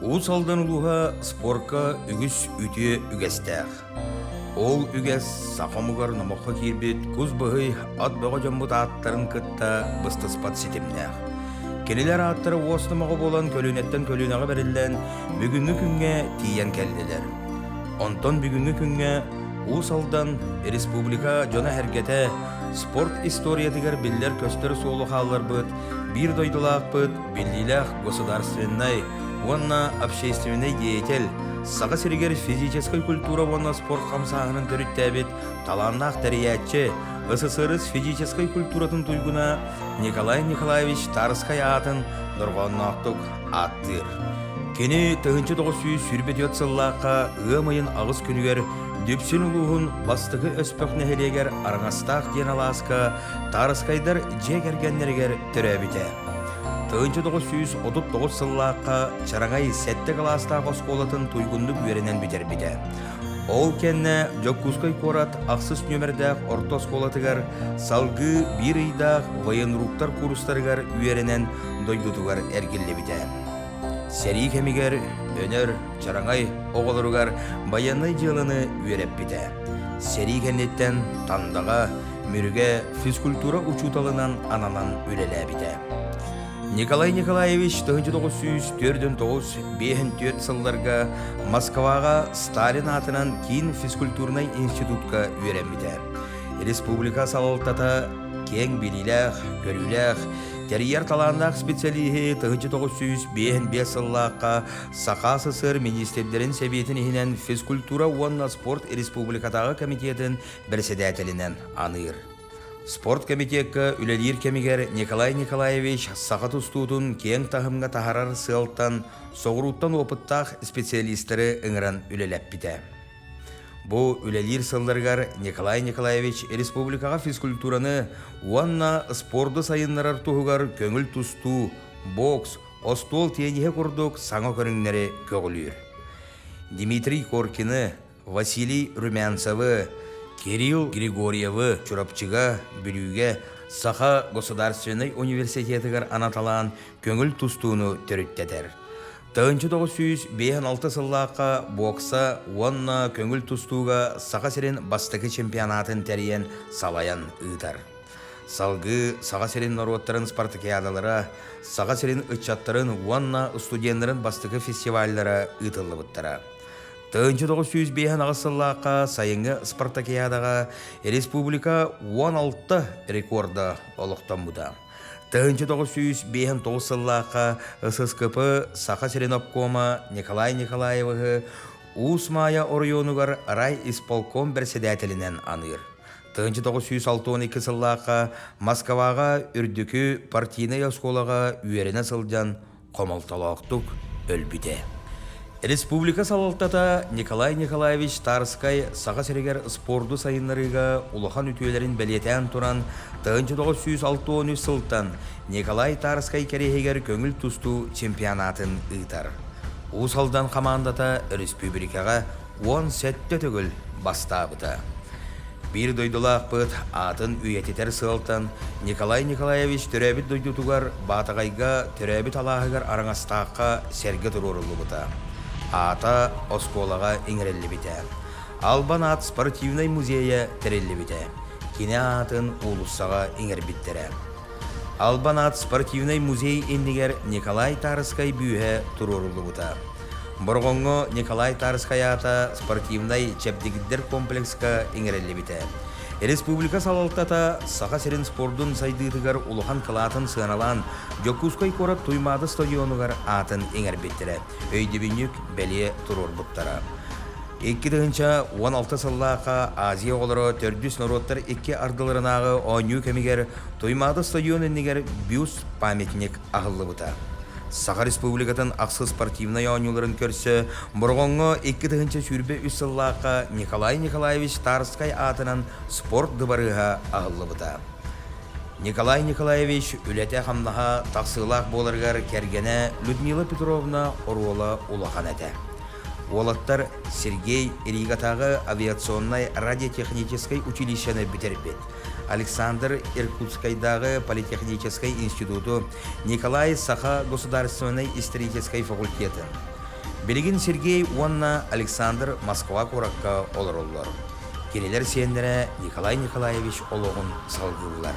Уус Алдан улууһа спорка үгүс үтүө үгэстээх. Ол үгэс саха омугар номоххо киирбит кус быһый ат бөҕө дьоммут ааттарын кытта быстыспат ситимнээх. Кинилэр ааттара уос номоҕо буолан көлүөнэттэн көлүөнэҕэ бэриллэн бүгүҥҥү күҥҥэ тиийэн кэллилэр. Онтон бүгүҥҥү күҥҥэ Уус Алдан республика дьоно-эргэтэ спорт историятыгар биллэр көстөр суолу хаалларбыт биир дойдулаахпыт, биллиилээх государственнай уонна общественнай деятель, Саха сиригэр физическэй культура уонна спорт хамсааһынын төрүттээбит талааннаах тэрийээччи, СССР физическэй культуратын туйгуна Николай Николаевич Тарскай аатын дорҕоонноохтук ааттыыр. Кини тыһынча тоҕус сүүс сүүрбэ түөрт сыллаахха ыам ыйын аҕыс күнүгэр Дүпсүн улууһун бастакы өспөх нэһилиэгэр Арҕастаах диэн алааска Таарыскайдар дьиэ кэргэннэригэр төрөөбүтэ. 1939 сыллаахха Чараҕай сэттэ кылаастаах оскуолатын туйгуннук үөрэнэн бүтэрбитэ. Ол кэннэ Дьокуускай куорат ахсыс нүөмэрдээх орто оскуолатыгар салгыы биир ыйдаах военруктар курстарыгар үөрэнэн дойдутугар эргиллибитэ. Сэрии кэмигэр Өнөр Чараҥай оҕолоругар байыаннай дьыаланы үөрэппитэ. Сэрии кэнниттэн Тандаҕа Мүрүгэ физкультура учууталынан ананан үлэлээбитэ. Николай Николаевич 1904-504 сылларга Москваҕа Сталин аатынан киин физкультурнай институтка үөрэммитэ. Республика салалтата киэҥ билиилээх, көрүүлээх, тэрийэр талааннаах специалиһи 1905 сыллаахха Саха СССР министрдэрин сэбиэтин иһинэн физкультура уонна спорт республикатааҕы комитетин бэрэссэдээтэлинэн аныыр. Спорт кэмитиэккэ үлэлиир кэмигэр Николай Николаевич саха тустуутун киэҥ таһымҥа таһарар сыалтан соҕурууттан опыттаах специалистары ыҥыран үлэлэппитэ. Бу үлэлиир сылларыгар Николай Николаевич республикаҕа физкультураны уонна спорду сайыннарар туһугар көҥүл тустуу, бокс, остуол тенниһэ курдук саҥа көрүҥнэри көҕүлүүр. Дмитрий Коркины, Василий Румянцевы, Кирилл Григорьевы, Чурапчыга, Бүлүүгэ Саха государственнай университетыгар анаталаан көҥүл тустууну төрүттэтэр. Тыһыынча тоҕус сүүс биэһэн сыллаахха бокса уонна көҥүл тустууга Саха сирин бастакы чемпионатын тэрийэн салайан ыытар. Салгыы Саха сирин норуоттарын спартакиадалара, Саха сирин ыччаттарын уонна студеннарын бастакы фестиваллара ыытыллыбыттара. 1900 сүүс аҕыс сыллаахха сайыҥҥы Спартакиадаҕа республика уон алта рекорда олохтоммута. 1909 сыллаахха ССКП Саха сирин обкома Николай Николаевы Уус Маайа оройуонугар рай исполком бэрсэдээтэлинэн аныыр. 1962 сыллаахха Москваҕа үрдүкү партийнай оскуолаҕа үөрэнэ сылдьан хомолтолоохтук өлбүтэ. Республика салалтата Николай Николаевич Тарскай Саха сиригэр спорду сайыннарыыга улахан үтүөлэрин бэлиэтээн туран, 1906 сылтан Николай Тарскай кэриэһигэр көҥүл тустуу чемпионатын ыытар. Уус Алдан хамаандата республикаҕа уон сэттэ төгүл бастаабыта. Биир дойдулаахпыт аатын үйэтитэр сыалтан Николай Николаевич төрөөбүт дойдутугар Баатаҕайга төрөөбүт алааһыгар Араҥастаахха сэргэ туруоруллубута. Аата оскуолаҕа иҥэриллибитэ. Албан аат спортивнай музейа тэриллибитэ. Кини аатын уулуссаҕа иҥэрбиттэрэ. Албан-Аат спортивнай музей иннигэр Николай Таарыскай бүүһэ туруоруллубута. Борҕоҥҥо Николай Таарыскай аата спортивнай чэбдигирдэр комплекска иҥэриллибитэ. Республика салалтата Саха сирин спордун сайдыытыгар улахан кылаатын сыаналаан Дьокуускай куорат Туймаада стадионугар аатын иҥэрбиттэрэ. өйдөбүнньүк бэлиэ туруорбуттара. Икки тыһыынча уон алта сыллаахха Азия оҕолоро төрдүс норуоттар икки ардыларынааҕы оонньуу кэмигэр Туймаада стадион иннигэр бюст памятник аһыллыбыта. Саха Республикатын ахсыс спортивнай оонньууларын көрсө Бороҕоҥҥо икки тыһыынча сүүрбэ үс сыллаахха Николай Николаевич Тарскай аатынан спорт дыбарыаһа аһыллыбыта. Николай Николаевич үлэтэ-хамнаһа тахсыылаах буоларыгар кэргэнэ Людмила Петровна оруола улахан этэ. Уолаттар Сергей Ригатааҕы авиационнай радиотехническай училищены бүтэрбит, Александр Иркутскайдааҕы политехническай институту, Николай Саха государственнай историческай факультетін. Билигин Сергей уонна Александр Москва куоракка олороллор. Кинилэр сиэннэрэ Николай Николаевич олоҕун салгыыллар.